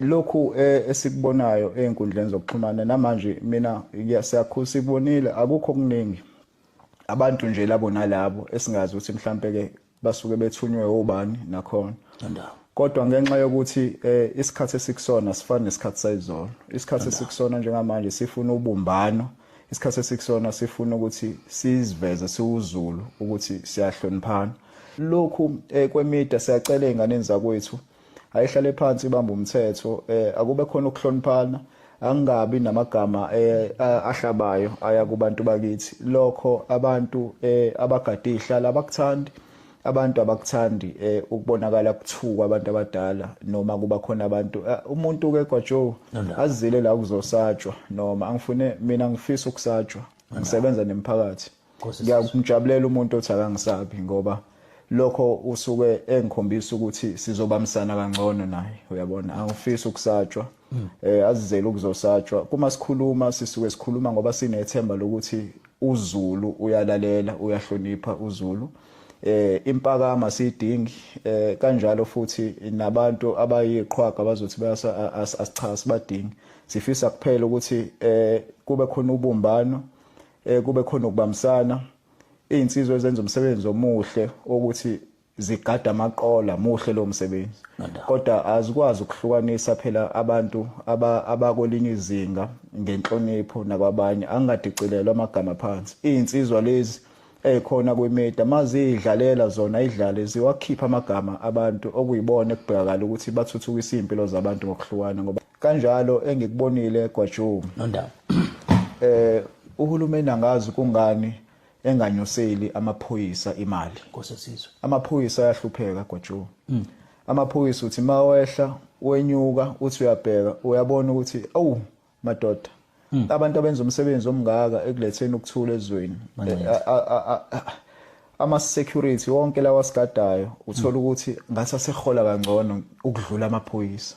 lokhu eh, esikubonayo ey'nkundleni zokuxhumana namanje mina siyakhu sikubonile akukho okuningi abantu nje labo nalabo esingazi ukuthi mhlampe-ke basuke bethunywe obani nakhona kodwa ngenxa yokuthi eh, isikhathi esikusona sifana nesikhathi sayizolo isikhathi esikusona njengamanje sifuna ubumbano isikhathi esikusona sifuna ukuthi siziveze siwuzulu ukuthi siyahloniphana lokhu eh, kwemida siyacela ey'nganeni zakwethu ayihlale phansi ibamba umthetho eh akube khona ukuhloniphana angabi namagama eh, ahlabayo aya kubantu bakithi lokho abantu eh, abagade ihlala abakuthandi abantu abakuthandi eh, ukubonakala kuthuka abantu abadala noma kuba khona abantu eh, umuntu ke kwaJoe azile la kuzosatshwa noma angifune mina ngifisa ukusatshwa ngisebenza nemphakathi ngiyamjabulela umuntu othi akangisabi ngoba lokho usuke engikhombisa ukuthi sizobambisana kangcono naye uyabona angifisi ukusatshwa hmm. eh azizele ukuzosatshwa kuma sikhuluma sisuke sikhuluma ngoba sinethemba lokuthi uZulu uyalalela uyahlonipha uZulu eh impakama sidingi eh kanjalo futhi nabantu abayiqhwaga bazothi bayasa asichasa badingi sifisa kuphela ukuthi eh kube khona ubumbano eh kube khona ukubambisana izinsizwa ezenza umsebenzi omuhle ukuthi zigada amaqola muhle lo msebenzi kodwa azikwazi ukuhlukanisa phela abantu abakwelinye izinga ngenhlonipho nakwabanye angadicilelwa amagama phansi izinsizwa lezi ekhona kwimedia mazidlalela zona idlale ziwakhipha amagama abantu okuyibona ekubhekakala ukuthi bathuthukisa impilo zabantu ngokuhlukana ngoba kanjalo engikubonile eGwajuma nondaba eh uhulumeni angazi kungani enganyuseli amaphoyisa imali nkosesizwe amaphoyisa ayahlupheka gojo mm. amaphoyisa uthi mawehla wenyuka uthi uyabheka uyabona ukuthi awu madoda mm. abantu abenza umsebenzi omngaka ekuletheni ukuthula ezweni ama security wonke lawa sigadayo uthola hmm. ukuthi ngathi asehola kangcono ukudlula amaphoyisa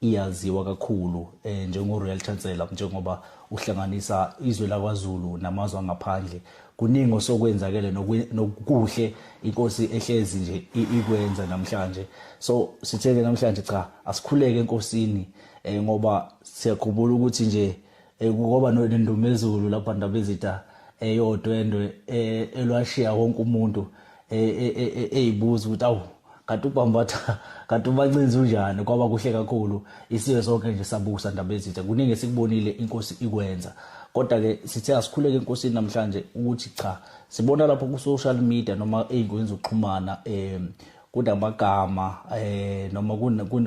iyaziwa kakhulu eh, njengo-royal chancellor njengoba uhlanganisa izwe lakwazulu namazwe angaphandle kuningi osokwenzakele nokuhle inkosi ehlezi nje ikwenza namhlanje so sitheke namhlanje cha asikhuleke enkosini eh, ngoba siyakhumbula ukuthi nje Eh, kukoba nendumezulu lapha ndabezita eyodwendwe eh, elwashiya wonke umuntu eh, eyibuza ukuthi awu kanti ubambatha kanti ubancinzi unjani kwaba kuhle kakhulu isiwe sonke nje sabusa ndabezitha kuningi esikubonile inkosi ikwenza kodwa-ke sithe asikhuleke enkosini namhlanje ukuthi cha sibona lapho ku-social media noma ey'nkundleni zokuxhumana um kunamagama eh noma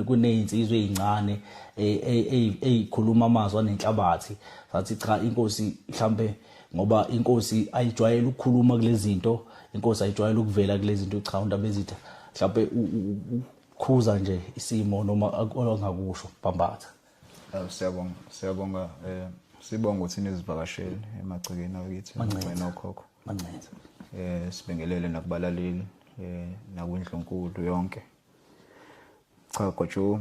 kunezinsizwe ezincane ezikhuluma eh, eh, eh, amazwi anenhlabathi sathi cha inkosi mhlambe ngoba inkosi ayijwayele ukukhuluma kulezinto inkosi ayijwayele ukuvela kulezinto cha undaba ezitha mhlambe ukukhuza nje isimo noma ongakusho bambatha siyabonga siyabonga eh sibonga ukuthi nizivakashele emagcekeni akithi ngicela okhokho Mancenza. Eh sibingelele nakubalaleli eh nakwindlunkulu yonke. Cha gojo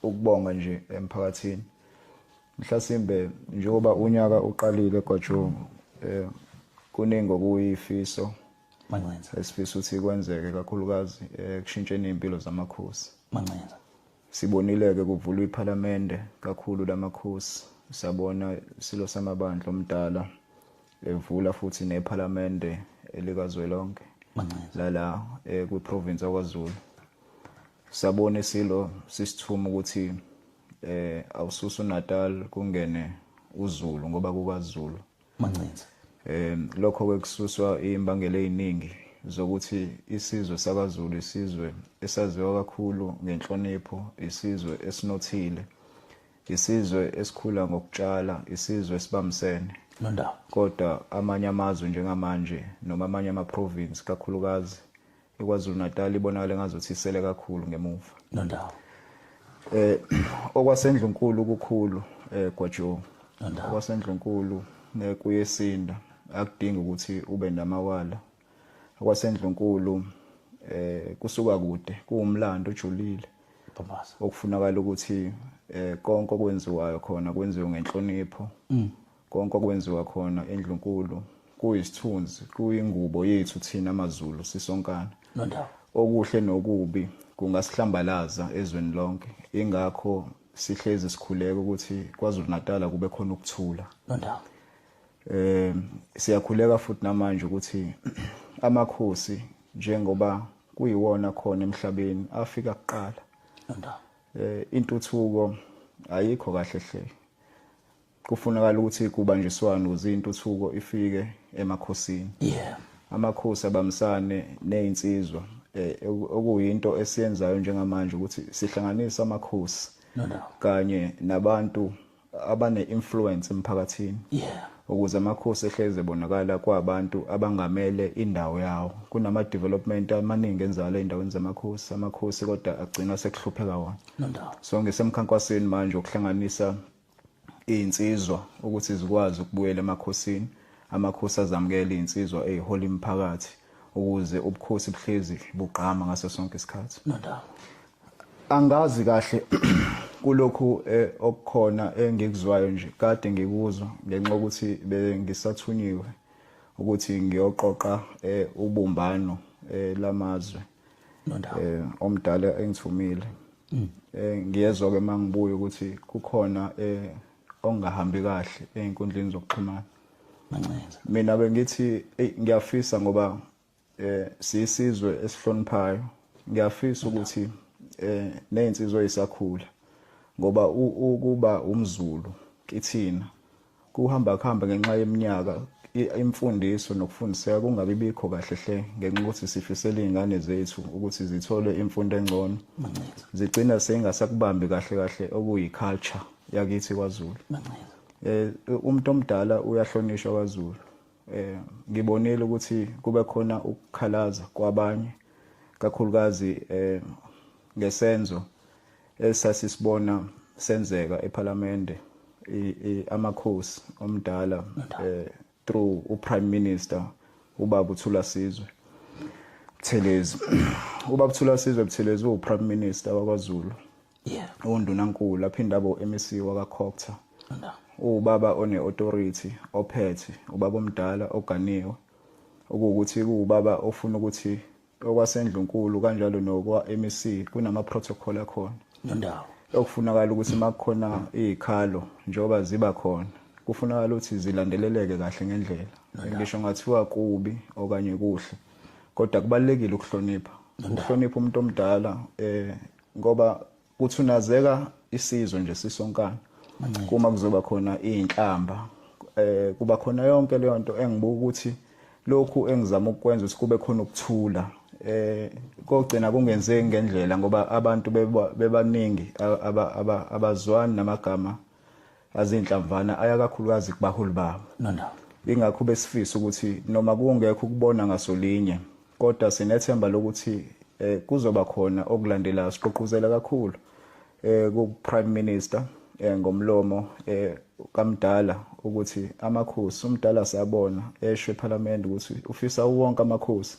ukubonga nje emphakathini. Mhlasimbe njengoba unyaka uqalile gojo eh kuningi okuyifiso Mancenza. Esifisa ukuthi kwenzeke kakhulukazi ekushintsheni eh, impilo zamakhosi. Mancenza. Sibonile-ke kuvulwa iPhalamende kakhulu lamakhosi, sabona isilo samabandla omdala evula futhi nePhalamende elikazwelonke lala eh, kwiprovince yakwaZulu. Sabona isilo sisithuma ukuthi eh awususu Natal kungene uZulu ngoba kukaZulu Mancinza. Eh lokho ke kususwa imbangela eziningi zokuthi isizwe sakaZulu isizwe esaziwa kakhulu ngenhlonipho, isizwe esinothile, isizwe esikhula ngokutshala, isizwe esibambisene. Nondawo. Kodwa amanye amazwe njengamanje noma amanye ama-province kakhulukazi eKwaZulu Natal ibonakala engazuthi isele kakhulu ngemuva nondawo eh okwasendlunkulu kukhulu eh gwajo okwasendlunkulu nekuyesinda akudingi ukuthi ube namawala okwasendlunkulu eh kusuka kude kuwumlando ojulile Thomas okufunakala ukuthi eh konke okwenziwayo khona kwenziwe ngenhlonipho mm. Konke okwenziwa khona endlunkulu kuyisithunzi, kuyingubo yethu thina maZulu sisonkana. Nondawo. Okuhle nokubi kungasihlambalaza ezweni lonke. Ingakho sihlezi sikhuleka ukuthi KwaZulu-Natal kube khona ukuthula. Nondawo. Eh siyakhuleka futhi namanje ukuthi amakhosi njengoba kuyiwona khona emhlabeni afika kuqala. Nondawo. Eh intuthuko ayikho kahle hle. Kufunakala ukuthi kubanjiswane ukuze intuthuko ifike emakhosini. Yeah. Amakhosi abamisane nezinsizwa eh, okuyinto esiyenzayo njengamanje ukuthi sihlanganisa amakhosi no, no. kanye nabantu abane influence emphakathini. Yeah. ukuze amakhosi ehlezi ebonakala kwabantu abangamele indawo yawo kunama development amaningi enzalo endaweni zamakhosi amakhosi kodwa agcina sekuhlupheka wona so ngisemkhankasweni manje ukuhlanganisa iy'nsizwa ukuthi zikwazi ukubuyela emakhosini amakhosi azamukele iy'nsizwa ey'hola imiphakathi ukuze ubukhosi buhlezi bugqama ngaso sonke isikhathi angazi kahle kulokhu eh, okukhona engikuzwayo nje kade ngikuzwa ngenxa ukuthi bengisathunyiwe ukuthi ngiyoqoqa eh, ubumbano eh, lamazwe nondawo eh omdala engithumile mm. eh ngiyezwa ke mangibuya ukuthi kukhona eh ongahambi kahle einkundleni zokuxhumana mancenza mina bengithi hey ngiyafisa ngoba eh sisizwe esihloniphayo ngiyafisa ukuthi eh nezinsizwa ezisakhula ngoba ukuba umzulu kithina Kuhamba kuhamba ngenxa yeminyaka imfundiso nokufundiseka kungabi bikho kahle hle ngenxa ukuthi sifisela izingane zethu ukuthi zithole imfundo engcono zigcina sengasakubambi kahle kahle okuyi culture yakithi kwaZulu eh umuntu omdala uyahlonishwa kwaZulu eh ngibonile ukuthi kube khona ukukhalaza kwabanye kakhulukazi eh ngesenzo esasisibona senzeka ephalamende amakhosi omdala eh, through uprime minister ubaba uthula sizwe Buthelezi ubaba uthula sizwe Buthelezi uprime minister wakwaZulu yeah undunankulu aphinde abo MEC wakaCocta no. ubaba one authority ophethe ubaba omdala oganiwe okuwukuthi kuwubaba ofuna ukuthi okwasendlunkulu kanjalo nokwa-mec kunama-protocol akhona nendawo okufunakala ukuthi uma kukhona iy'khalo njengoba ziba khona kufunakala ukuthi zilandeleleke kahle ngendlela ngisho ngathiwa kubi okanye kuhle kodwa kubalulekile ukuhlonipha ukuhlonipha umuntu omdala um ngoba Kuthunazeka isizwe nje sisonkana. Kuma kuzoba khona izinhlamba eh kuba khona yonke leyo nto engibuka ukuthi lokhu engizama ukukwenza ukuthi kube khona ukuthula eh kogcina kungenzeki ngendlela ngoba abantu bebaningi abazwani namagama azinhlamvana aya kakhulukazi kubaholi babo no no ingakho besifisa ukuthi noma kungekho ukubona ngasolinye kodwa sinethemba lokuthi eh, kuzoba khona okulandelayo siqoquzela kakhulu eh, ku-prime minister eh, ngomlomo eh, kamdala ukuthi amakhosi umdala siyabona esho ephalamende ukuthi ufisa wonke amakhosi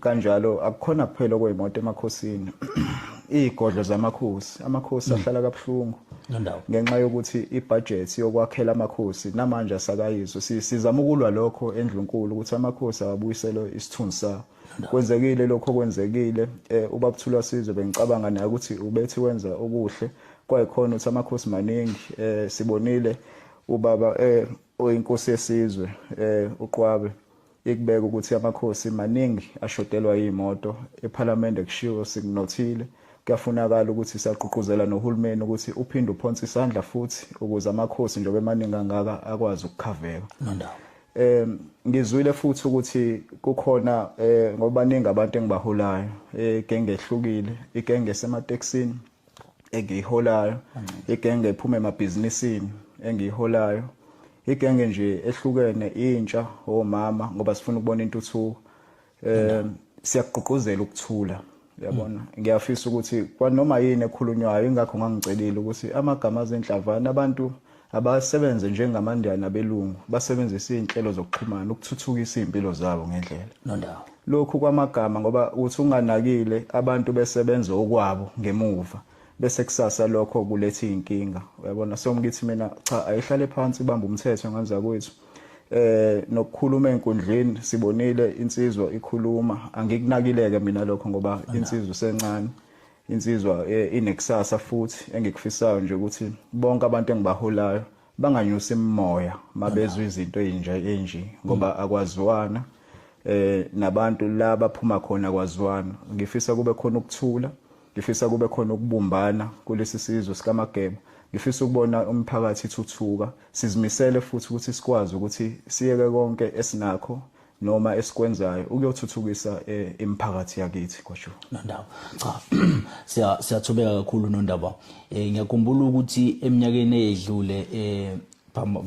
kanjalo akukhona kuphela okweyimoto emakhosini izigodlo zamakhosi amakhosi mm. ahlala kabuhlungu ngenxa yokuthi ibudget yokwakhela amakhosi namanje asakayizwe sizama ukulwa lokho endlunkulu ukuthi amakhosi awabuyiselwe isithunzi sawo kwenzekile lokho kwenzekile eh, ubabuthula sizwe bengicabanga naye ukuthi ubethi wenza okuhle kwayikhona ukuthi amakhosi maningi eh, sibonile ubaba eh, oyinkosi yesizwe uqwabe Ikubeka ukuthi amakhosi maningi ashodelwa iy'moto, ephalamende kushiwo sikunothile, kuyafunakala ukuthi sagqugquzela nohulumeni ukuthi uphinde uphonse isandla futhi ukuze amakhosi njengoba emaningi angaka akwazi ukukhaveka. Nondawo. Eh ngizwile futhi ukuthi kukhona eh ngoba ningi abantu engibaholayo egenge eh, ehlukile igenge semateksini engiyiholayo igenge ephuma emabhizinisini engiyiholayo Igenge nje ehlukene intsha omama ngoba sifuna ukubona intuthuko. Eh siyakugqugquzela ukuthula. Uyabona? Mm. Ngiyafisa ukuthi kwanoma yini ekhulunywayo ingakho ngangicelile ukuthi amagama azenhlavana abantu abasebenze njengamandiyana abelungu basebenzisa izinhlelo zokuxhumana ukuthuthukisa izimpilo zabo ngendlela. Nondawo. Lokhu kwamagama ngoba uthi unganakile abantu besebenza okwabo ngemuva. bese kusasa lokho kuletha izinkinga uyabona so ngithi mina cha ayihlale phansi ibamba umthetho nganza kwethu eh nokukhuluma enkundleni sibonile insizwa ikhuluma angikunakileke mina lokho ngoba insizwa sencane insizwa eh, inekusasa futhi engikufisayo nje ukuthi bonke abantu engibaholayo banganyusi imimoya mabezwe izinto ezinje enje ngoba mm. akwaziwana eh nabantu la baphuma khona kwaziwana ngifisa kube khona ukuthula Ngifisa kube khona ukubumbana kulesi sizwe sikaMageba. Ngifisa ukubona umphakathi ithuthuka. Sizimisele futhi ukuthi sikwazi ukuthi siyeke konke esinakho noma esikwenzayo ukuyothuthukisa eh, imiphakathi yakithi kwasho nondaba cha siya siyathobeka kakhulu nondaba eh, ngiyakhumbula ukuthi eminyakeni eyedlule eh,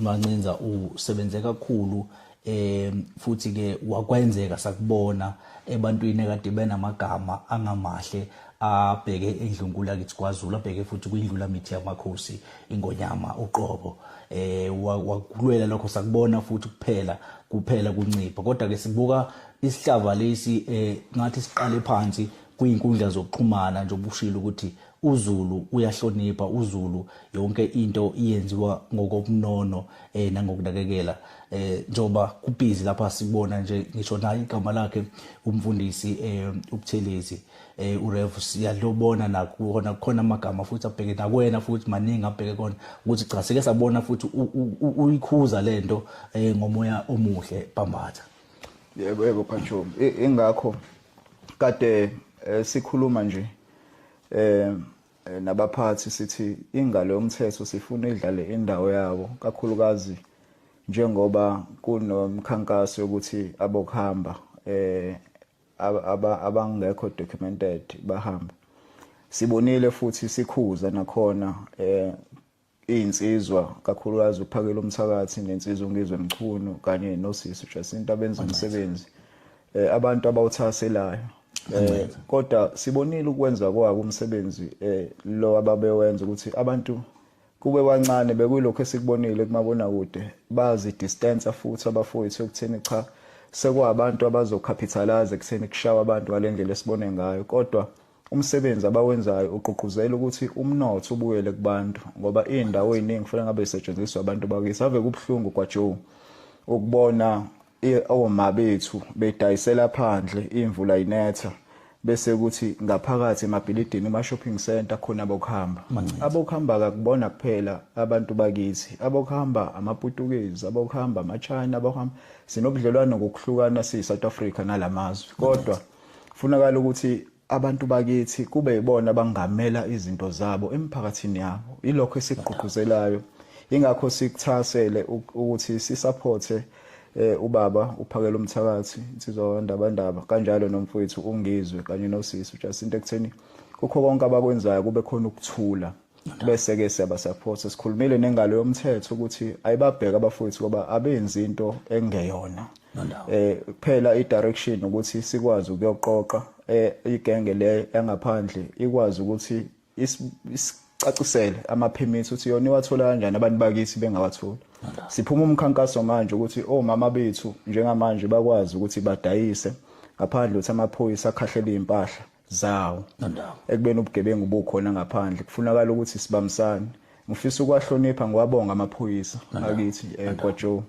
Mancinza usebenze kakhulu eh futhi ke wakwenzeka sakubona ebantwini ekade benamagama angamahle abheke endlunkulu akithi kwaZulu abheke futhi kwindlula mithi yamakhosi ingonyama uqobo eh wakulwela lokho sakubona futhi kuphela kuphela kuncipha kodwa ke sibuka isihlava lesi eh ngathi siqale phansi kuyinkundla zokuxhumana nje obushilo ukuthi uZulu uyahlonipha uZulu yonke into iyenziwa ngokobunono eh nangokunakekela eh njoba kubizi lapha sibona nje ngisho naye igama lakhe umfundisi eh ubuthelezi eh urev siyalobona nakhona khona amagama futhi abheke nakwena futhi maningi abheke kona ukuthi cha sike sabona futhi uyikhuza lento eh ngomoya omuhle bambatha yebo yebo phathombi ingakho kade eh, sikhuluma nje eh nabaphathi sithi ingalo yomthetho sifuna idlale indawo yabo kakhulukazi njengoba kunomkhankaso yokuthi abokuhamba eh abangekho documented bahambe sibonile futhi sikhuza nakhona eh iy'nsizwa kakhulukazi uphakela umthakathi nensizwa ungizwe mchunu kanye nosisi ujasinta benza umsebenzi um abantu abawuthakaselayo um kodwa sibonile ukwenza kwabo umsebenzi um lo ababewenza ukuthi abantu kube bancane bekuyilokhu esikubonile kumabonakude bazidistansa futhi abafowethu ekutheni cha sekwabantu abazokhapithalaza ekutheni kushawa abantu ngale ndlela esibone ngayo kodwa Umsebenzi abawenzayo ugqugquzela ukuthi umnotho ubuyele kubantu ngoba iy'ndawo ey'ningi kufanele ngabe zisetshenziswa abantu bakithi. Ave kubuhlungu kwaJoe ukubona oma bethu bedayisela phandle imvula inetha bese kuthi ngaphakathi emabhilidini kuma-shopping center khona abokuhamba abokuhamba kakubona kuphela abantu bakithi abokuhamba amaputukezi abokuhamba amachina abokuhamba sinobudlelwane ngokuhlukana siyi-south africa nala mazwe kodwa Mangithi. Funakala ukuthi abantu bakithi kube yibona abangamela izinto zabo emphakathini yabo. Ilokho esikugqugquzelayo. Ingakho sikuthasele ukuthi sisupporte eh ubaba uphakela umthakathi insizwa wandabandaba kanjalo nomfowethu ungizwe kanye nosisi uJacinta ekutheni kukho konke abakwenzayo kube khona ukuthula bese-ke siyabasaphotha sikhulumile nengalo yomthetho ukuthi ayibabheke abafowethu ngoba abenzi into engeyona eh kuphela i-direction ukuthi sikwazi ukuyoqoqa eh, igenge le yangaphandle ikwazi ukuthi isicacisele amaphemithi ukuthi yona iwathola kanjani abantu bakithi bengawatholi siphuma umkhankaso manje ukuthi omama oh, bethu njengamanje bakwazi ukuthi badayise ngaphandle ukuthi amaphoyisa akhahlela iy'mpahla zawo ekubeni ubugebengu bukhona ngaphandle kufunakala ukuthi sibambisane ngifisa ukwahlonipha ngiwabonga amaphoyisa akithi eh, kwaJoe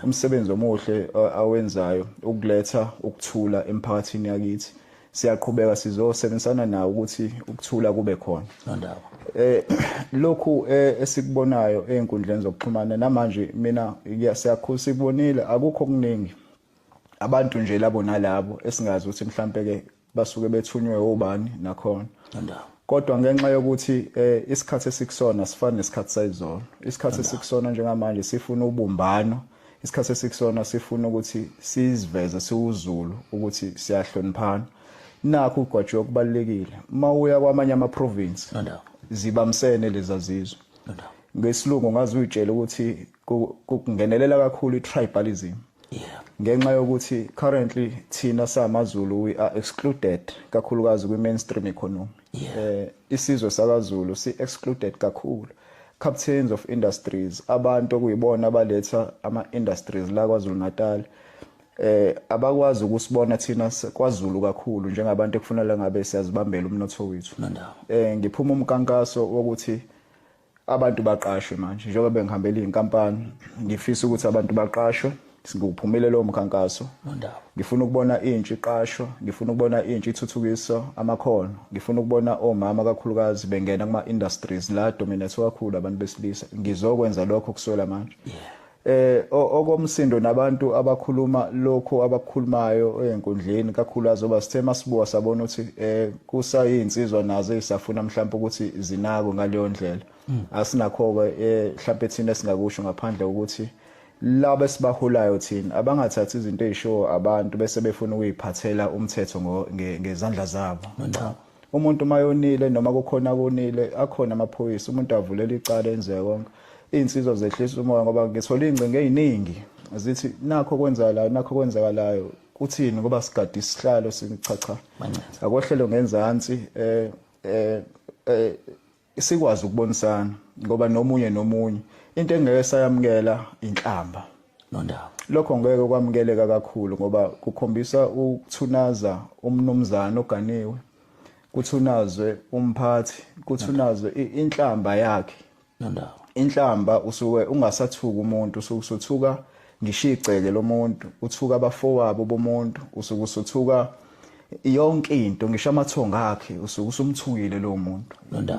umsebenzi omuhle eh, awenzayo ukuletha ukuthula emphakathini yakithi siyaqhubeka sizosebenzisana nawo ukuthi ukuthula kube khona nondawo eh lokhu eh, esikubonayo einkundleni zokuxhumana namanje mina siyakhulisa ikubonile akukho kuningi abantu nje labo nalabo esingazi ukuthi mhlampe ke basuke bethunywe obani nakhona kodwa ngenxa yokuthi eh, isikhathi esikusona sifana nesikhathi sayizolo isikhathi esikusona njengamanje sifuna ubumbano isikhathi esikusona sifuna ukuthi siziveze siwuzulu ukuthi siyahloniphana nakho ugwajiwe kubalekile uma uya kwamanye ama province zibamsene lezazizwe ngesilungu ngazi uyitshela ukuthi kungenelela kakhulu i-tribalism yeah ngenxa yokuthi currently thina samaZulu we are excluded kakhulukazi kwi-mainstream economy yeah. eh isizwe sakaZulu si excluded kakhulu captains of industries abantu okuyibona abaletha ama industries la kwaZulu Natal eh abakwazi ukusibona thina kwaZulu kakhulu njengabantu ekufanele ngabe siyazibambela umnotho wethu eh ngiphuma umkankaso wokuthi abantu baqashwe manje njengoba bengihambela iy'nkampani ngifisa ukuthi abantu baqashwe ngiwuphumile lowo mkhankaso ngifuna ukubona intsha iqashwa ngifuna ukubona intsha ithuthukisa amakhono ngifuna ukubona omama kakhulukazi bengena kuma-industries la dominate kakhulu abantu besilisa ngizokwenza lokho kuswela manje eh okomsindo nabantu abakhuluma lokho abakhulumayo enkundleni kakhulu azoba sithe masibuka sabona ukuthi eh kusayinsizwa nazo ezisafuna mhlawumbe ukuthi zinako ngaleyo ndlela hmm. asinakho ke eh, mhlawumbe thina singakusho ngaphandle ukuthi laba esibaholayo thina abangathathi izinto ezishowo abantu bese befuna ukuyiphathela umthetho ngezandla zabo umuntu mayonile noma kukhona kunile akhona amaphoyisa umuntu avulela icala enze konke iy'nsizwa zehlisa umoya ngoba ngithole iy'ngcingo ey'ningi zithi nakho kwenzakalayo nakho kwenzakalayo kuthini ngoba sigade isihlalo singichacha akohlelo ngenzansi um um sikwazi ukubonisana ngoba nomunye nomunye into engeke sayamukela inhlamba nondaba lokho ngeke kwamukeleka kakhulu ngoba kukhombisa ukuthunaza umnumzana oganiwe kuthunazwe umphathi kuthunazwe inhlamba yakhe nondaba inhlamba usuke ungasathuka umuntu usuke usuthuka ngishigceke lomuntu uthuka abafowabo bomuntu usuke usuthuka yonke into ngisho amathonga akhe usuke usumthukile lo muntu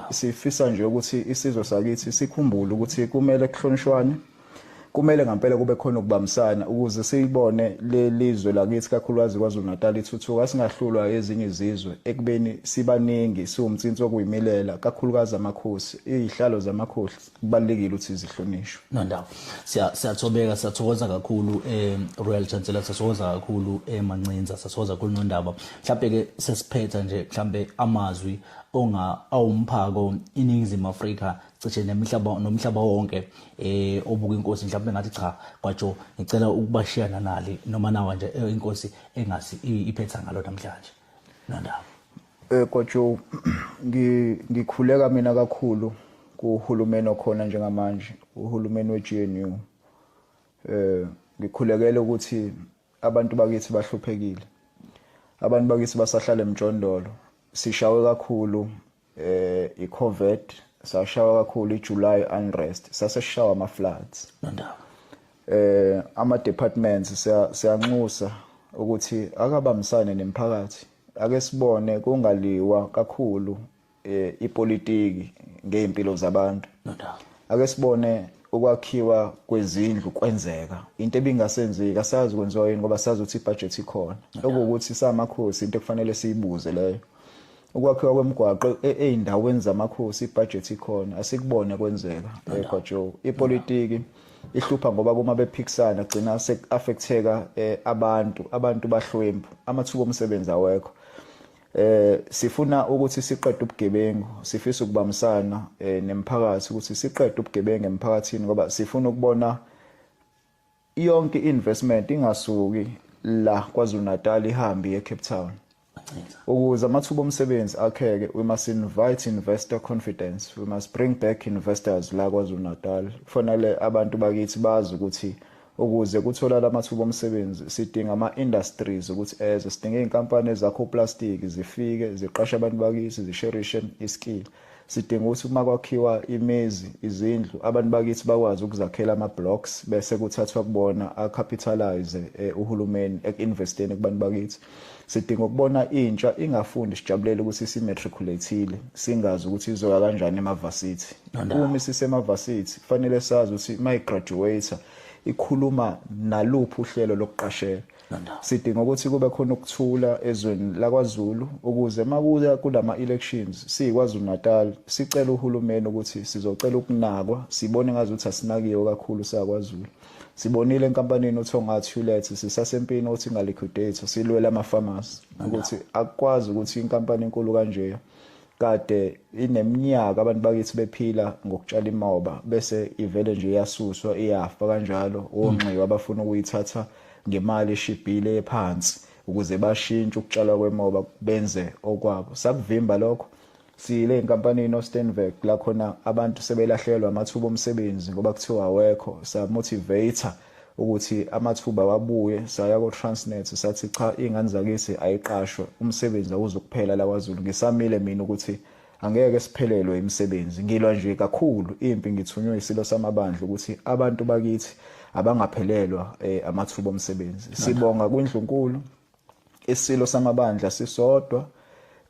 sifisa nje ukuthi isizwe sakithi sikhumbule ukuthi kumele kuhlonishwane kumele ngempela kube khona ukubambisana ukuze siyibone lelizwe lakithi kakhulukazi KwaZulu-Natal ithuthuka singahlulwa ezinye izizwe ekubeni sibaningi siwumtsinsi okuyimilela kakhulukazi amakhosi izihlalo zamakhosi kubalekile ukuthi zihlonishwe no ndawo siya siyathobeka siyathokoza kakhulu eh Royal Chancellor siyathokoza kakhulu eh Mancinza siyathokoza kakhulu nondaba mhlawumbe ke sesiphetha nje mhlawumbe amazwi onga awumphako iningizimu Afrika cishe nemihlaba nomhlaba wonke eh obuka inkosi mhlawumbe ngathi cha kwajo ngicela ukubashiya nanali noma nawa nje eh, inkosi engasi iphetha ngalo namhlanje nondaba Eh kwaJoe ngikhuleka mina kakhulu kuhulumeni okhona njengamanje uhulumeni weGNU eh ngikhulekele ukuthi abantu bakithi bahluphekile abantu bakithi basahlala emjondolo sishawe kakhulu eh iCovet sashawa kakhulu iJuly unrest saseshawa ama floods nandaba eh ama departments siyanxusa ukuthi akabambisane nemphakathi ake sibone kungaliwa kakhulu eh, ipolitiki ngey'mpilo zabantu no doubt ake sibone ukwakhiwa kwezindlu kwenzeka into ebingasenzeki asazi kwenziwa yini ngoba sazi ukuthi ibudget ikhona okuwukuthi samakhosi into ekufanele siyibuze leyo ukwakhiwa kwemigwaqo e-, ezindaweni zamakhosi ibudget ikhona asikubone kwenzeka eGwajo ipolitiki ihlupha ngoba kuma bephikisana gcina affecteka eh, abantu abantu bahlwempu amathuba omsebenzi awekho eh sifuna ukuthi siqede ubugebengu sifisa ukubambisana eh, nemphakathi ukuthi siqede ubugebengu emphakathini ngoba sifuna ukubona yonke investment ingasuki la KwaZulu-Natal ihambe eCape Town Ukuze amathuba omsebenzi akheke, we must invite investor confidence. We must bring back investors la KwaZulu-Natal. Kufanele abantu bakithi bazi ukuthi ukuze kutholakale amathuba omsebenzi sidinga ama-industries ukuthi eze sidinga iy'nkampani ezakha uplastiki zifike ziqashe abantu bakithi zisherishe iskill Sidinga ukuthi uma kwakhiwa imizi, izindlu, abantu bakithi bakwazi ukuzakhela ama-blocks bese kuthathwa kubona a-capitalize eh, uhulumeni eku-investeni kubantu bakithi. Sidinga ukubona intsha ingafundi sijabulele ukuthi isimatriculate-ile singazi ukuthi izoya kanjani emavasithi. Uma isisemavasithi kufanele sazi ukuthi uma igraduate ikhuluma naluphi uhlelo lokuqashela. sidinga ukuthi kube khona ukuthula ezweni lakwaZulu ukuze makuya kulama elections siyiKwaZulu Natal sicela uhulumeni ukuthi sizocela ukunakwa sibone ngazi ukuthi asinakiwe kakhulu sakwaZulu sibonile enkampanini uThonga Tulet sisasempini othi ngaliquidate silwela ama farmers ukuthi akwazi ukuthi inkampani enkulu kanje kade ineminyaka abantu bakithi bephila ngokutshala imoba bese ivele nje iyasuswa iyafa kanjalo onxiwa abafuna ukuyithatha ngemali eshibhile ephansi ukuze bashintshe ukutshalwa kwemoba benze okwabo sakuvimba lokho siyile enkampanini oStenberg la khona abantu sebelahlekelwa amathuba omsebenzi ngoba kuthiwa awekho samotivator ukuthi amathuba wabuye saya ko-transnet sathi cha iy'ngane zakithi ayiqashwe umsebenzi awuzukuphela lakwazulu ngisamile mina ukuthi angeke siphelelwe imisebenzi ngilwa nje kakhulu impi ngithunywe isilo samabandla ukuthi abantu bakithi abangaphelelwa eh, amathuba omsebenzi sibonga kwindlunkulu isilo samabandla sisodwa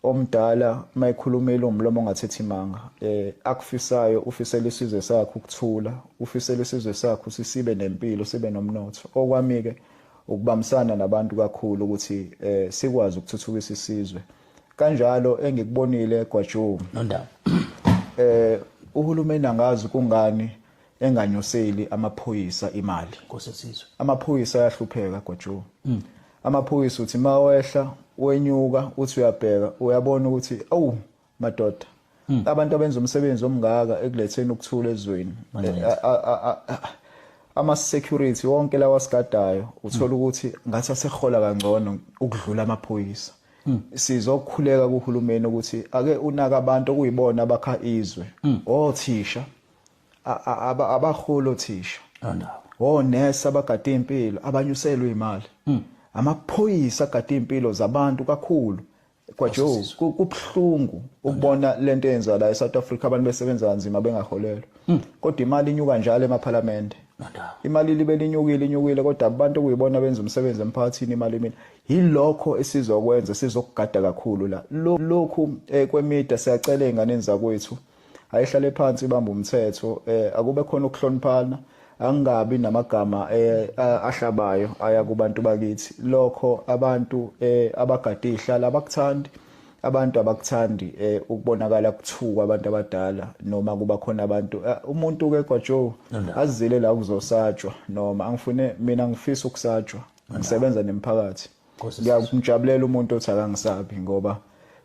omdala mayikhulumile umlomo ongathethi imanga eh akufisayo ufisela isizwe sakhe ukuthula ufisela isizwe sakhe sisibe nempilo sibe nomnotho okwamike ukubambisana nabantu kakhulu ukuthi eh sikwazi ukuthuthukisa isizwe kanjalo engikubonile egwajuni nondaba eh uhulumeni angazi kungani enganyuseli amaphoyisa imali nkosi yesizwe amaphoyisa ayahlupheka gojo mm. amaphoyisa uthi mawehla wenyuka uthi uyabheka uyabona ukuthi awu madoda mm. abantu abenza umsebenzi omngaka ekuletheni ukuthula ezweni ama security wonke lawa sigadayo uthola mm. ukuthi ngathi asehola kangcono ukudlula amaphoyisa Mm. sizokhuleka kuhulumeni ukuthi ake unaka abantu okuyibona abakha izwe mm. othisha abahulu othisha onesi abagade impilo abanyuselwe imali hmm. amaphoyisa agade impilo zabantu kakhulu kwajo kubhlungu ukubona lento eyenziwa la eSouth Africa abantu besebenza kanzima bengaholelwa hmm. kodwa imali inyuka njalo emaphalamende imali libe linyukile inyukile kodwa abantu kuyibona benza umsebenzi emphakathini imali mina yilokho esizokwenza sizokugada kakhulu la lokhu eh, kwemida siyacela ingane zakwethu ayihlale phansi ibamba umthetho eh akube khona ukuhloniphana angabi namagama eh, ahlabayo aya kubantu bakithi lokho abantu eh, abagade ihlala abakuthandi abantu abakuthandi eh, ukubonakala kuthukwa abantu abadala noma kuba khona abantu eh, umuntu ke kwaJoe azile la kuzosatshwa noma angifune mina ngifisa ukusatshwa ngisebenza nemphakathi ngiyamjabulela umuntu othi akangisabi ngoba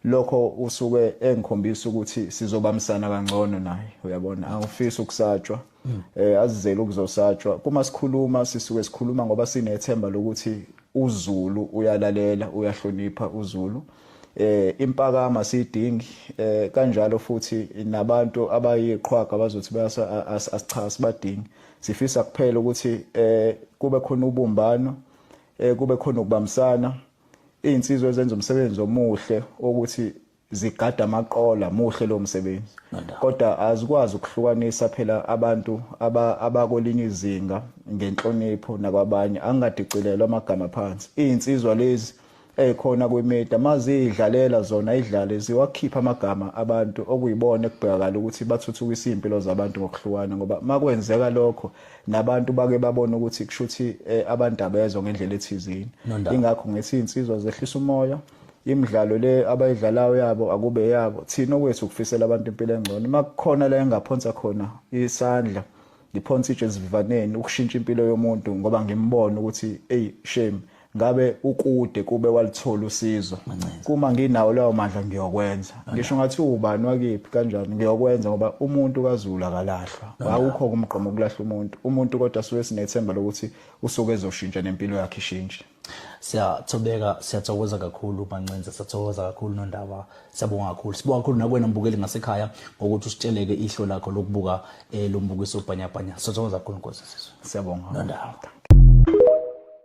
lokho usuke engikhombisa ukuthi sizobambisana kangcono naye uyabona angifisi ukusatshwa eh azizele ukuzosatshwa kuma sikhuluma sisuke sikhuluma ngoba sinethemba lokuthi uZulu uyalalela uyahlonipha uZulu eh impakama sidingi eh kanjalo futhi nabantu abayiqhwaga bazothi bayasa asichasi badingi sifisa kuphela ukuthi eh kube khona ubumbano eh kube khona ukubambisana izinsizwa ezenza umsebenzi omuhle ukuthi zigada amaqola muhle lo msebenzi kodwa azikwazi ukuhlukanisa phela abantu abakolinye izinga ngenhlonipho nakwabanye angadicilelwa amagama phansi izinsizwa lezi ekhona kwimedia mazidlalela zona idlale ziwakhipha amagama abantu okuyibona ekubhekakala ukuthi bathuthukisa impilo zabantu ngokuhlukana ngoba makwenzeka lokho nabantu bake babona ukuthi kushuthi eh, abantu abezwa ngendlela ethizini ingakho ngithi insizwa zehlisa umoya imidlalo le abayidlalayo yabo akube yabo thina okwethu ukufisela abantu impilo engcono uma kukhona la engaphonsa khona isandla ngiphonsa itshe ezivivaneni ukushintsha impilo yomuntu ngoba ngimbona ukuthi eyi shame ngabe ukude kube walithola usizo kuma nginawo lawo mandla ngiyokwenza ngisho ngathi ubani wakiphi kanjani ngiyokwenza ngoba umuntu kazulu akalahlwa awukho kumgqomo ukulahla umuntu umuntu kodwa suke sinethemba lokuthi usuke ezoshintsha nempilo yakhe ishintshe siyathobeka siyathokoza kakhulu mancenze siyathokoza kakhulu nondaba siyabonga kakhulu sibonga kakhulu nakwena mbukeli ngasekhaya ngokuthi usitsheleke ihlo lakho lokubuka eh, lo mbukiso ubhanyabhanya siyathokoza kakhulu nkosi sisizwe siyabonga nondaba